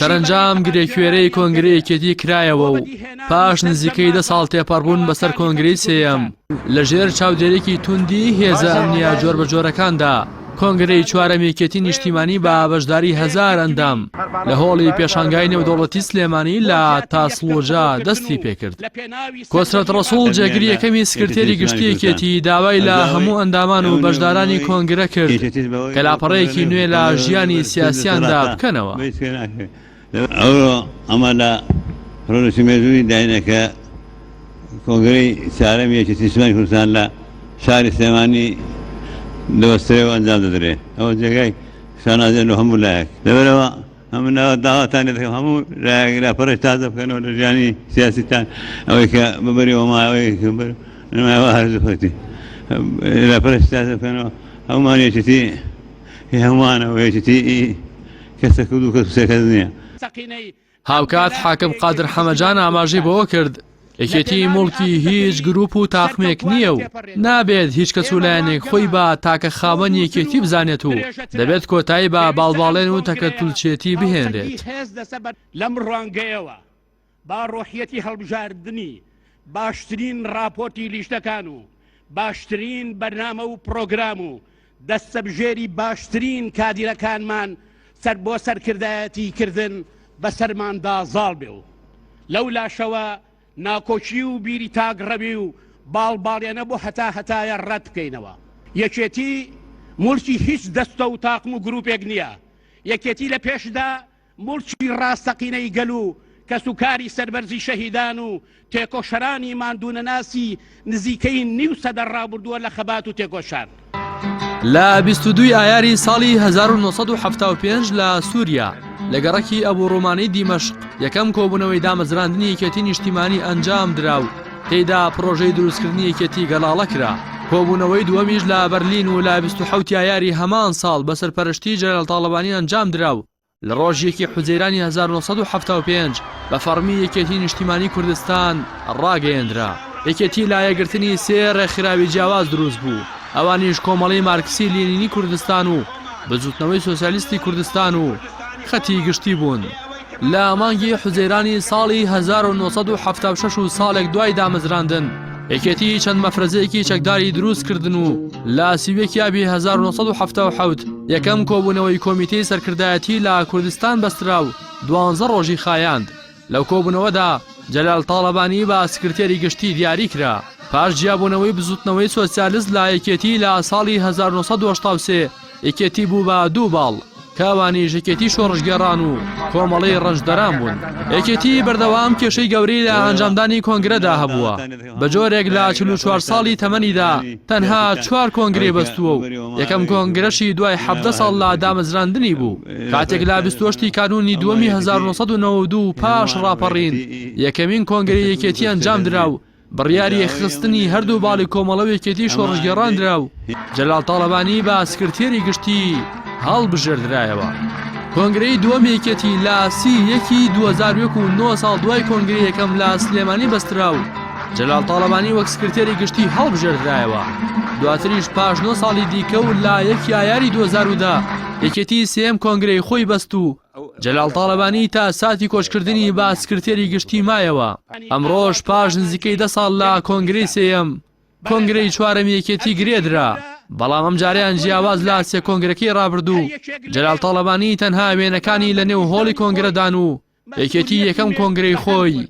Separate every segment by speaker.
Speaker 1: سەرەنجام گرێکوێرەی کۆنگری یەکێتی کرایەوە و پاش نزیکەی دە ساڵ تێپەڕبوون بەسەر کۆنگری سێەم لە ژێر چاودێرێکی توندی هێزە ئەمنیا جۆر بە جۆرەکاندا کۆنگرەی چوارەمێکێتی نیشتیمانی بە بەشداری هزار ئەندام لە هۆڵی پێشانگای نێودەوڵەتی سلێمانی لە تاسڵۆجا دەستی پێکرد. کۆسرەت ڕەسوڵ جێگری یەکەمی سکرتێری گشتی یەکێتی داوای لە هەموو ئەندامان و بەشدارانی کۆنگرە کرد کە لاپەڕەیەکی نوێ لە ژیانی سیاسیاندا بکەنەوە. ئەوڕۆ
Speaker 2: ئەمە لە ڕۆژی مێژووی داینە کە کۆنگرەی چارەمی یەکێتی نیشتمانی کوردستان لە شاری سلێمانی دەبەسترێ و ئەنجام دەدرێ ئەوە جێگای شانازیە لۆ هەموو لایەک لەبەرەوە من داواتان لێ دەکەم هەموو لایەک لاپەڕەی تازە بکەنەوە لە ژیانی سیاسیتان ئەوەی کە ببەریەوە ماوەی بەر نمایەوە هەرزخۆتی لاپەڕی تازە بکەنەوە هەمومان یەکێتی هەمووانەوە یەکێتی کەسە کورد و کەس سەکەس نییە.
Speaker 1: هاوکات حاکم قادر حەمەجان ئاماژەی بەوە کرد، یەکێتی موڵکی هیچ گروپ و تاقمێک نییە و نابێت هیچ کەس و لایەنێک خۆی بە تاکە خاوەن یەکێتی بزانێت و دەبێت کۆتایی بە باڵباڵێن و تەکەتولچێتی بهێنرێت لەم
Speaker 3: ڕوانگەیەوە با ڕۆحیەتی هەڵبژاردنی باشترین ڕاپۆرتی لیژنەکان و باشترین بەرنامە و پرۆگرام و دەستەبژێری باشترین کادیرەکانمان سەر بۆ سەرکردایەتی کردن بە سەرماندا زاڵ بێ و لەو لاشەوە ناکۆکی و بیری تاک ڕەوی و باڵ باڵێنە بۆ هەتا هەتایە ڕەت بکەینەوە یەکێتی مورکی هیچ دەستە و تاقم و گروپێک نییە یەکێتی لە پێشدا موڵکی ڕاستەقینەی گەل و کەسوکاری سەربەرزی شەهیدان و تێکۆشەرانی ماندوونەناسی نزیکەی نیو سەدە ڕابردووە لە خەبات و تێکۆشان. لە
Speaker 1: بیست و دووی ئایاری ساڵی هەزار و نۆ سەد و حەفتا و پێنج لە سووریا، لە گەڕەکی ئەبوو ڕوومانی دیمەشق یەکەم کۆبوونەوەی دامەزراندنی یەکێتی نیشتیمانی ئەنجام درا و، تێیدا پڕۆژەی دروستکردنی یەکێتیی گەڵاڵە کرا. کۆبوونەوەی دووەمیش لە بەرلین و لە بیست و حەوت ئایاری هەمان ساڵ بە سەرپەرشتیی جەنەرال تاڵەبانی ئەنجام درا و لە ڕۆژی یەکی حوزەیرانی هەزار و نۆ سەد و حەفتا و پێنج بە فەڕمی یەکێتیی نیشتیمانیی کوردستان ڕاگەیێنرا. یەکێتی لە یەکگرتنی سێ ڕێکخراوی جیاواز دروست بوو، ئەوانیش کۆمەڵەی مارکسی لینینی کوردستان و بزووتنەوەی سۆسیالیستی کوردستان و خەتی گشتی بوون. لە مانگی حوزەیرانی ساڵی هەزار و نۆ سەد و حەفتا و شەش و ساڵێک دوای دامەزراندن، یەکێتیی چەند مەفرەزەیەکی چەکداری دروست کردن و لە سی و یەک یابی هەزار و نۆ سەد و حەفتا و حەوت یەکەم کۆبوونەوەی کۆمیتەی سەرکردایەتی لە کوردستان بەسترا و دوانزە ڕۆژی خایاند. لەو کۆبوونەوەدا جەلال تاڵەبانی بە سکرتێری گشتی دیاری کرا. پاش جیابوونەوەی بزووتنەوەی سۆسیالست لە یەکێتیی لە ساڵی هەزار و نۆ سەد و هەشتا و سێ، یەکێتی بوو بە دوو باڵ کاوانیش یەکێتی شۆڕشگێڕان و کۆمەڵەی ڕەنجدەران بوون. یەکێتی بەردەوام کێشەی گەورەی لە ئەنجامدانی کۆنگرەدا هەبووە، بە جۆرێک لە چل و چوار ساڵی تەمەنیدا تەنها چوار کۆنگرەی بەستووە و یەکەم کۆنگرەشی دوای حەڤدە ساڵ لە دامەزراندنی بوو، کاتێک لە بیست و هەشت ی کانوونی دووەمی هەزار و نۆ سەد و نەوەد و دوو پاش ڕاپەڕین یەکەمین کۆنگرەی یەکێتی ئەنجامدرا و بڕیاری یەکخستنی هەردوو باڵی کۆمەڵە و یەکێتی شۆڕشگێڕان درا و جەلال تاڵەبانی بە سکرتێری گشتی هەڵبژێردرایەوە. کۆنگرەی دووەمی یەکێتی لە سی و یەک ی دوو هەزار و یەک و نۆ ساڵ دوای کۆنگرەی یەکەم لە سلێمانی بەسترا و جەلال تاڵەبانی وەک سکرتێری گشتی هەڵبژێردرایەوە. دواتریش پاش نۆ ساڵی دیکە و لە یەکی ئایاری دوو هەزار و دە یەکێتی سێیەم کۆنگرەی خۆی بەست و جەلال تاڵەبانی تا ساتی کۆچکردنی بە سکرتێری گشتی مایەوە، ئەمڕۆش پاش نزیکەی دە ساڵ لە کۆنگرەی سێیەم، کۆنگرەی چوارەمی یەکێتی گرێدرا، بەڵام ئەمجارەیان جیاواز لە سێ کۆنگرەکەی رابردوو، جەلال تاڵەبانی تەنها وێنەکانی لەنێو هۆڵی کۆنگرەدان و یەکێتی یەکەم کۆنگرەی خۆی،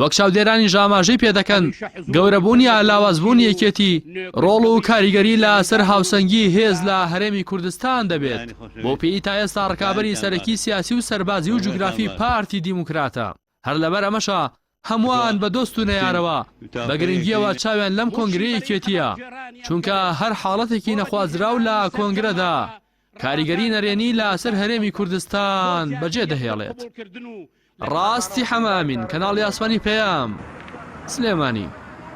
Speaker 1: وەک چاودێرانیش ئاماژەی پێدەکەن، گەورەبوون یا لاوازبوونی یەکێتی ڕۆڵ و کاریگەری لە سەر هاوسەنگی هێز لە هەرێمی کوردستان دەبێت، بۆ پێی تا ئێستا ڕکابەری سەرەکی سیاسی و سەربازی و جوگرافی پارتی دیموکراتە، هەر لەبەر ئەمەشە هەمووان بە دۆست و نەیارەوە بە گرنگییەوە چاویان لەم کۆنگرەی یەکێتییە، چونکە هەر حاڵەتێکی نەخوازراو لە کۆنگرەدا کاریگەری نەرێنی لاسەر هەرێمی کوردستان بەجێ دەهێڵێت. ڕاستی حەمە ئەمین، کەناڵی ئاسمانی پەیام، سلێمانی.